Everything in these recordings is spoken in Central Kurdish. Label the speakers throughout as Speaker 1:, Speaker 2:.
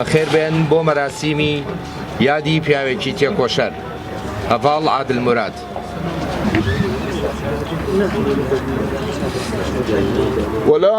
Speaker 1: بەخێربێن بۆ مەراسیمی یادی پیاوێکی تێکۆشەر هەڤاڵ عادل مراد.
Speaker 2: ولا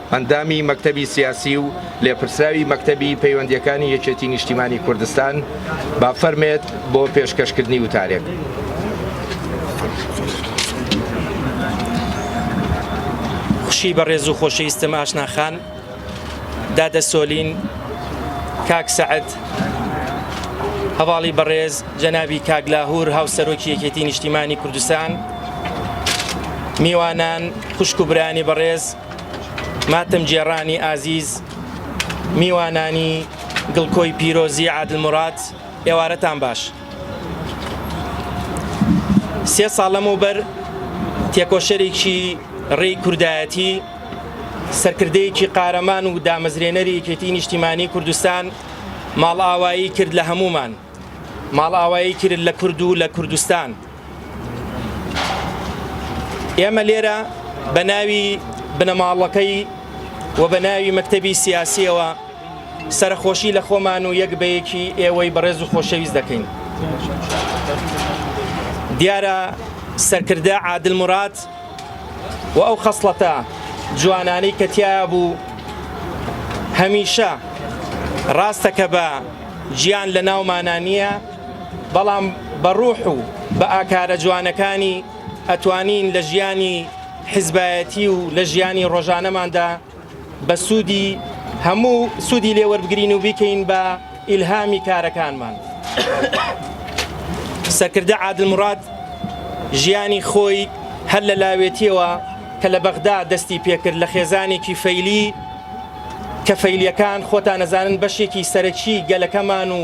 Speaker 1: ئەندامی مەکتەبی سیاسی و لێپرسراوی مەکتەبی پەیوەندییەکانی یەکێتی نیشتیمانی کوردستان، با فەرمێت بۆ پێشکەشکردنی وتارێک.
Speaker 3: خوشکی بەڕێز و خۆشەویستم ئاشنا خان، دادە سۆلین، کاک سەعد، هەڤاڵی بەڕێز جەنابی کاک لاهور هاوسەرۆکی یەکێتی نیشتیمانی کوردستان، میوانان، خوشک و برایانی بەڕێز، ماتەمگێڕانی ئازیز، میوانانی گڵکۆی پیرۆزی عادل مراد، ئێوارەتان باش. سێ ساڵ لەمەوبەر تێکۆشەرێکی ڕێی کوردایەتی، سەرکردەیەکی قارەمان و دامەزرێنەری یەکێتی نیشتیمانی کوردستان ماڵئاوایی کرد لە هەموومان، ماڵئاوایی کرد لە کورد و لە کوردستان. ئێمە لێرە بە ناوی بنەماڵەکەی و بە ناوی مەکتەبی سیاسیەوە سەرخۆشی لە خۆمان و یەک بەیەکی ئێوەی بەڕێز و خۆشەویست دەکەین دیارە سەرکردە عادل مراد و ئەو خەسڵەتە جوانانەی کە تیا بوو هەمیشە ڕاستەکە بە گیان لە ناومانانیە بەڵام بە ڕوح و بە ئاکارە جوانەکانی ئەتوانین لە ژیانی حزبایەتی و لە ژیانی ڕۆژانەماندا بە سوودی هەموو سوودی لێوەربگرین و بیکەین بە ئیلهامی کارەکانمان سەرکردە عادل مراد ژیانی خۆی هەر لە لاوێتیەوە کە لە بەغدا دەستی پێکرد لە خێزانێکی فەیلی کە فەیلیەکان خۆتان نەزانن بەشێکی سەرەکی گەلەکەمان و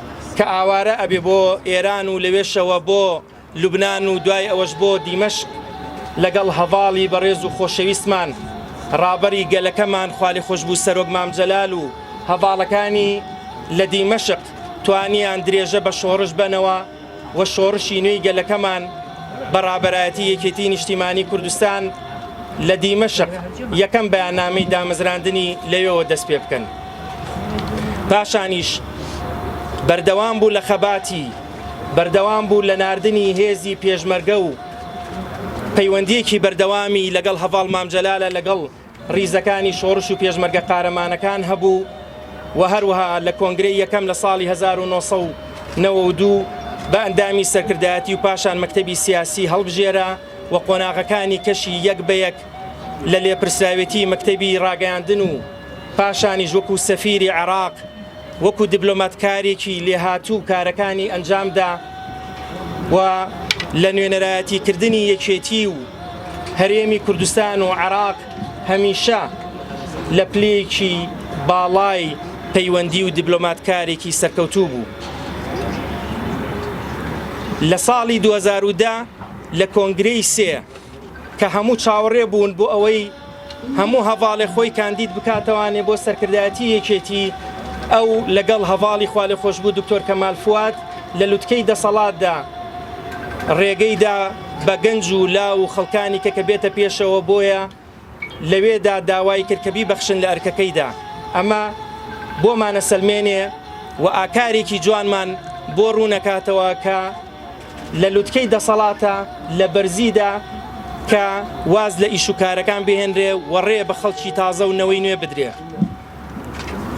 Speaker 3: کە ئاوارە ئەبێ بۆ ئێران و لەوێشەوە بۆ لوبنان و دوای ئەوەش بۆ دیمەشق لەگەڵ هەڤاڵی بەڕێز و خۆشەویستمان ڕابەری گەلەکەمان خالی خۆشببوو سەرۆک مام جەلال و هەڤاڵەکانی لە دیمەشق توانیان درێژە بە شۆڕش بەنەوە و شۆڕشی نوێی گەلەکەمان بە ڕابەرایەتی یەکێتی نیشتیمانی کوردستان لە دیمەشق یەکەم بەیاننامەی دامەزراندنی لەوێەوە دەست پێ بکەن. پاشانیش بەردەوام بوو لە خەباتی بەردەوام بوو لە ناردنی هێزی پێشمەرگە و پەیوەندیەکی بەردەوامی لەگەڵ هەڤاڵ مامجلالە لەگەڵ ڕیزەکانی شۆڕش و پێشمەرگە قارەمانەکان هەبوو و هەروەها لە کۆنگرەی یەکەم لە ساڵی 1992 بە ئەندامی سەرکردایەتی و پاشان مەکتەبی سیاسی هەڵبژێرا و قۆناغەکانی کەشی یەک بە یەک لە لێپرسراوێتی مەکتەبی ڕاگەیاندن و پاشانیش وەکو سەفیری عێراق وەکو دیبلۆماتکارێکی لێهاتوو کارەکانی ئەنجامدا و لە نوێنەرایەتی کردنی یەکێتی و هەرێمی کوردستان و عێراق هەمیشە لە پلێکی باڵای پەیوەندی و دیبلۆماتکارێکی سەرکەوتوو بوو. لە ساڵی 2010 لە کۆنگرەی سێ کە هەموو چاوەڕێ بوون بۆ ئەوەی هەموو هەڤاڵێ خۆی کاندید بکاتەوانێ بۆ سەرکردایەتی یەکێتی ئەو لەگەڵ هەڤاڵی خوالێ خۆشببوو دکتۆر کەمال فواد لە لوتکەی دەسەڵاتدا ڕێگەیدا بە گەنج و لا و خەڵکانی کە کە بێتە پێشەوە بۆیە لەوێدا داوای کرد کە بیبەخشن لە ئەرکەکەیدا ئەمە بۆمانە سلمێنێ و ئاکارێکی جوانمان بۆ ڕوونەکاتەوە کە لە لوتکەی دەسەڵاتە لە بەرزیدا کە واز لە ئیش و کارەکان بهێنرێ و ڕێ بە خەڵکی تازە و نەوەی نوێ بدرێ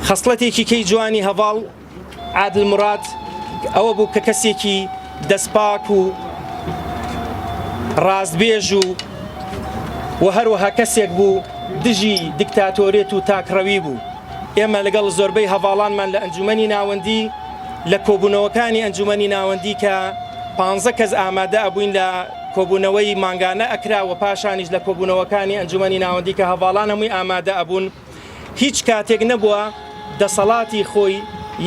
Speaker 3: خەسڵەتێکی کەی جوانی هەڤاڵ عادل مراد ئەوە بوو کە کەسێکی دەستپاک و ڕاستبێژ و و هەروەها کەسێک بوو دژی دیکتاتۆرێت و تاکڕەوی بوو ئێمە لەگەڵ زۆربەی هەواڵانمان لە ئەنجومی ناوەندی لە کۆبوونەوەکانی ئەنجومەنی ناوەندی کە پانزە کەس ئامادە ئەبووین لە کۆبوونەوەی مانگانە ئەکرا و پاشانیش لە کۆبوونەوەکانی ئەنجومەنی ناوەندی کە هەواڵان هەمووی ئامادە ئەبوون هیچ کاتێک نەبووە دەسەڵاتی خۆی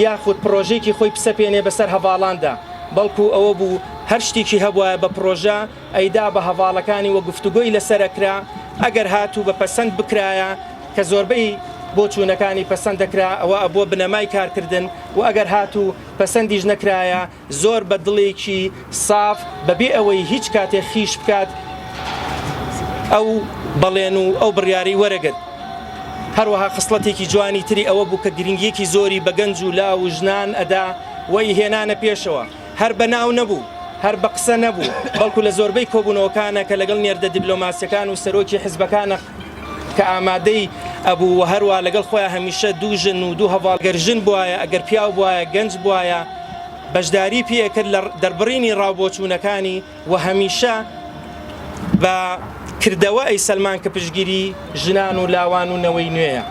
Speaker 3: یاخود پرۆژێکی خۆی پسەپێنێ بەسەر هەواڵاندا بەڵکو ئەوە بوو هەر شتێکی هەبواە بە پرۆژە ئەیدا بە هەڤاڵەکانی و گفتوگۆی لەسەر ئەکرا، ئەگەر هاتوو بە پەسەند بکرایە کە زۆربەی بۆچوونەکانی پەسەند دەکرا ئەوە ئەبووە بنەمای کارکردن و ئەگەر هاتوو پەسەندیش نەکرایە زۆر بە دڵێکی ساف بەبێ ئەوەی هیچ کاتێک خیش بکات ئەو بەڵێن و ئەو بڕیارەی وەرەگرت. هەروەها خسڵەتێکی جوانی تری ئەوە بوو کە گرنگییەکی زۆری بە گەنج و لاو و ژنان ئەدا و ی هێنانە پێشەوە. هەر بە ناو نەبوو، هەر بە قسە نەبوو، بەڵکو لە زۆربەی کۆبوونەوەکانە کە لەگەڵ نێردە دیبلۆماسیەکان و سەرۆکی حزبەکانە کە ئامادەی ئەبوو و هەروا لەگەڵ خۆیان هەمیشە دوو ژن و دوو هەڤاڵ گەر ژن بوایە ئەگەر پیاو بوایە گەنج بوایە بەشداری پێ ئەکرد لە دەربڕینی ڕاو بۆچوونەکانی و هەمیشە بە کردەوە ئەیسەلمان کە پشگیری ژنان و لاوان و نەوەی نوێیە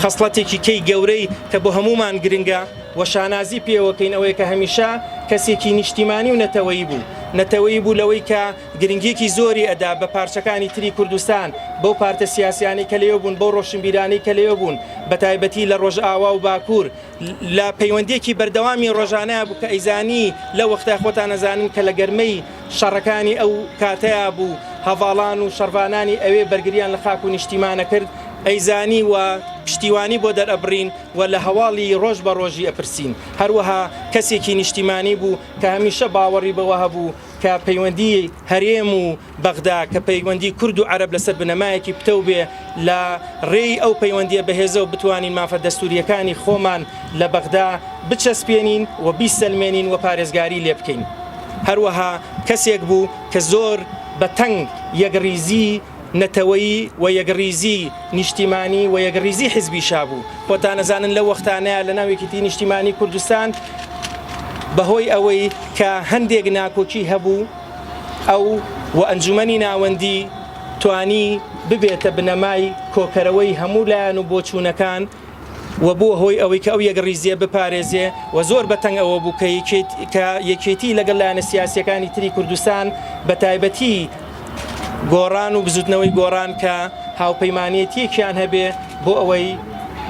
Speaker 3: خەسڵەتێکی کەی گەورەی کە بۆ هەمومان گرنگە و شانازی پێوەکەین ئەوەیە کە هەمیشە کەسێکی نیشتیمانی و نەتەوەیی بوو نەتەوەیی بوو لەوەی کە گرنگیەکی زۆری ئەدا بە پارچەکانی تری کوردستان بەو پارتە سیاسیانی کە لێو بوون بەو ڕۆشنبیرانی کە لێو بوون بە تایبەتی لە ڕۆژئاوا و باکوور لە پەیوەندیەکی بەردەوامی ڕۆژانەیا بوو کە ئەیزانی لە وەختای خۆتان ئەزانن کە لە گەرمەی شەڕەکانی ئەو کاتەیا بوو هەڤاڵان و شەڕڤانانی ئەوێ بەرگریان لە خاک و نیشتیمانە کرد ئەیزانی و پشتیوانی بۆ دەرئەبڕین و لە هەواڵی ڕۆژ بە ڕۆژی ئەپرسین هەروەها کەسێکی نیشتیمانی بوو کە هەمیشە باوەڕی بەوە هەبوو کە پەیوەندی هەرێم و بەغدا کە پەیوەندی کورد و عەرەب لەسەر بنەمایەکی پتەو بێ لە ڕێی ئەو پەیوەندیە بەهێزە و بتوانین مافە دەستوریەکانی خۆمان لە بەغدا بچەسپێنین و بیسەلمێنین و پارێزگاری لێ بکەین هەروەها کەسێک بوو کە زۆر بە تەنگ یەکڕیزی نەتەوەیی و یەکڕیزی نیشتیمانی و یەکڕیزی حزبی شابوو خۆتانەزانن لە وەختانەیە لە ناوێکیتی نیشتیمانی کوردستان بەهۆی ئەوەی کە هەندێک ناکۆکی هەبوو ئەو و ئەنجومەنی ناوەندی توانی ببێتە بنەمای کۆکەرەوەی هەموو لایەن و بۆچوونەکان و بووە هۆی ئەوەی کە ئەو یەکڕیزیە بپارێزێ و زۆر بەتەنگ ئەوە بوو کە کە یەکێتی لەگەڵ لایەنە سیاسەکانی تری کوردستان بە تایبەتی گۆڕان و بزوتنەوەی گۆڕان کە هاوپەیمانێتیەکیان هەبێ بۆ ئەوەی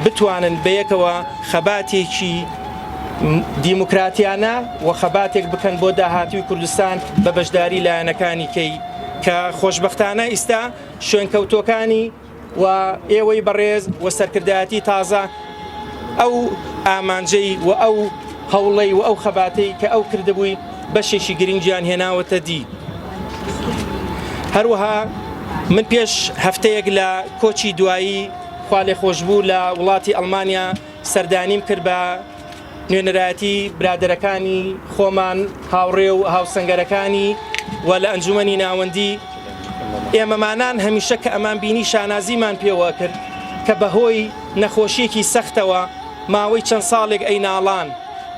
Speaker 3: بتوانن بەیەکەوە خەباتێکی دیموکراتیانە و خەباتێک بکەن بۆ داهاتوی کوردستان بە بەشداری لایەنەکانی کەی کە خۆشببختانە ئیستا شوێنکەوتۆکانی و ئێوەی بەڕێز و سەرکردایەتی تازە ئەو ئامانجەی و ئەو هەوڵەی و ئەو خەباتەی کە ئەو کردبووی بەشێکی گرنگیان هێناوەتە دی هەروەها من پێش هەفتەیەک لە کۆچی دوایی خوا لێ خۆشببوو لە وڵاتی ئەلمانیا سەردانیم کرد بە نوێنەرایەتی برادەرەکانی خۆمان هاوڕێ و هاوسەنگەرەکانی و لە ئەنجومنی ناوەندی ئێمەمانان هەمیشە کە ئەمان بینی شانازیمان پێوە کرد کە بەهۆی نەخۆشیەکی سەختەوە ماوەی چەند ساڵێک ئەی ناڵان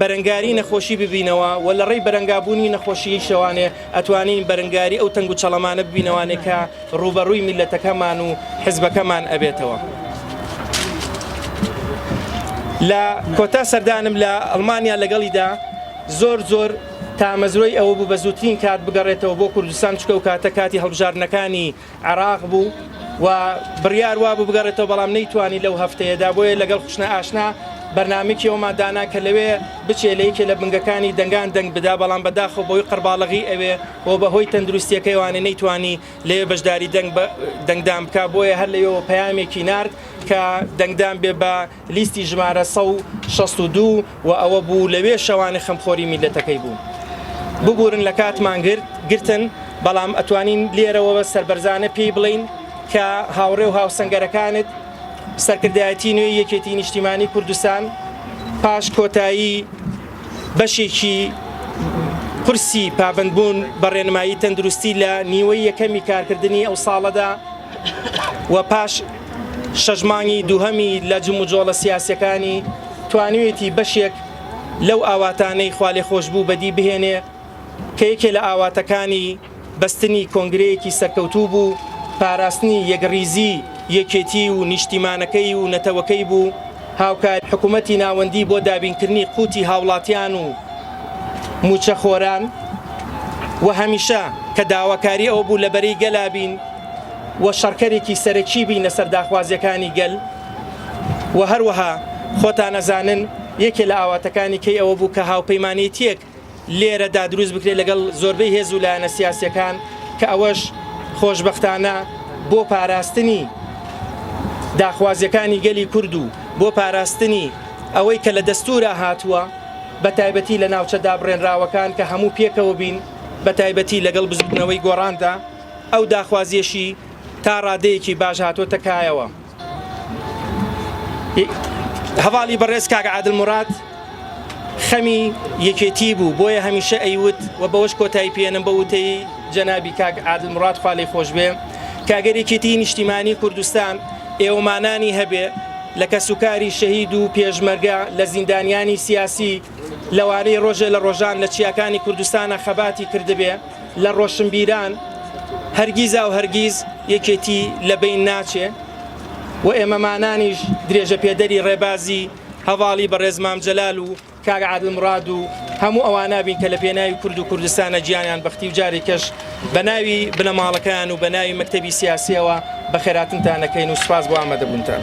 Speaker 3: بەرەنگاری نەخۆشی ببینەوە و لە ڕێی بەرەنگابوونی نەخۆشییشەوانێ ئەتوانین بەرەنگاری ئەو تەنگ و چەڵەمانە ببینەوانێ کە ڕووبەڕووی میللەتەکەمان و حزبەکەمان ئەبێتەوە. لە کۆتا سەردانم لە ئەڵمانیا لەگەڵیدا زۆر زۆر تامەزرۆی ئەوە بوو بە زووترین کات بگەڕێتەوە بۆ کوردستان چونکە ئەو کاتە کاتی هەڵبژاردنەکانی عێراق بوو و بڕیار وابوو بگەڕێتەوە بەڵام نەیتوانی لەو هەفتەیەدا بۆیە لەگەڵ خوشنە ئاشنا بەرنمێکی ئەومان دانا کە لەوێ بچێ لە یەکێ لە بنگەکانی دەنگان دەنگ بدا بەڵام بەداخە بۆی قەرباڵغی ئەوێ و بەهۆی تەندروستیەکەیوانە نەیتوانی لێ بەشداری دەنگ دەنگدان بک بۆیە هەر لەوێەوە پەیامێکی نرد کە دەنگدان بێ بە لیستی ژمارە سەد و شەست و دوو و ئەوە بوو لەوێ شەوانە خەمخۆری میللەتەکەی بوو. ببورن لە کاتمان گرت گرتن، بەڵام ئەتوانین لێرەوە سەربەرزانە پێی بڵێین کە هاوڕێ و هاوسەنگەرەکانت، سەرکردایەتی نوێی یەکێتی نیشتیمانی کوردستان پاش کۆتایی بەشێکی قورسی پابەندبوون بە ڕێنمایی تەندروستی لە نیوەی یەکەمی کارکردنی ئەو ساڵەدا، و پاش شەش مانگی دووهەمی لە جموجۆڵە سیاسەکانی توانوێتی بەشێک لەو ئاواتانەی خوالێ خۆش بوو بەدی بهێنێ کە یەکێ لە ئاواتەکانی بەستنی کۆنگرەیەکی سەرکەوتوو بوو پاراستنی یەکڕیزی یەکێتی و نیشتیمانەکەی و نەتەوەکەی بوو هاوکاری حکوومەتی ناوەندی بۆ دابینکردنی قوتی هاوڵاتیان و موچەخۆران و هەمیشە کە داواکاری ئەوە بوو لە بەرەی گەلابین و شەڕکەرێکی سەرەکی بین لەسەر داخوازیەکانی گەل و هەروەها خۆتان ئەزانن یەکێ لە ئاواتەکانی کەی ئەوە بوو کە هاوپەیمانێتیەک لێرەدا دروست بکرێت لەگەڵ زۆربەی هێز و لایەنە سیاسەکان کە ئەوەش خۆشببختانە بۆ پاراستنی داخوازیەکانی گەلی کورد و بۆ پاراستنی ئەوەی کە لە دەستورا هاتووە بە تایبەتی لە ناوچە دابڕێنراوەکان کە هەموو پێکەوە بین بە تایبەتی لەگەڵ بزوتنەوەی گۆڕاندا ئەو داخوازیەشی تا ڕادەیەکی باش هاتۆتە کایەوە. هەواڵی بەڕێز کاک عادل مراد خەمی یەکێتی بوو بۆیە هەمیشە ئەیوت و بەوەش کۆتایی پێێنم بە وتەی جەنابی کاک عادل مراد خالی خۆشبێ کاگەرێکێتی نیشتیمانی کوردستان ئێوەمانانی هەبێ لە کەسوکاری شەهید و پێشمەرگە لە زیندانیانی سیاسی لەوانەی ڕۆژێ لە ڕۆژان لە چیاکانی کوردستانە خەباتی کردبێ لە ڕۆشنبیران هەرگیزاو هەرگیز یەکێتی لە بەین ناچێ و ئێمەمانانیش درێژە پێدەری ڕێبازی هەواڵی بەڕێز مام جەلال و کاک عادل مراد و هەموو ئەوانابین کە لە پێناوی کورد و کوردستانە گیانیان بەختی و جارێکەش بە ناوی بنەماڵەکەیان و بە ناوی مەکتەبی سیاسیەوە بە خێراتنتانەکەین و سپاس بۆ ئامادەبوونتان.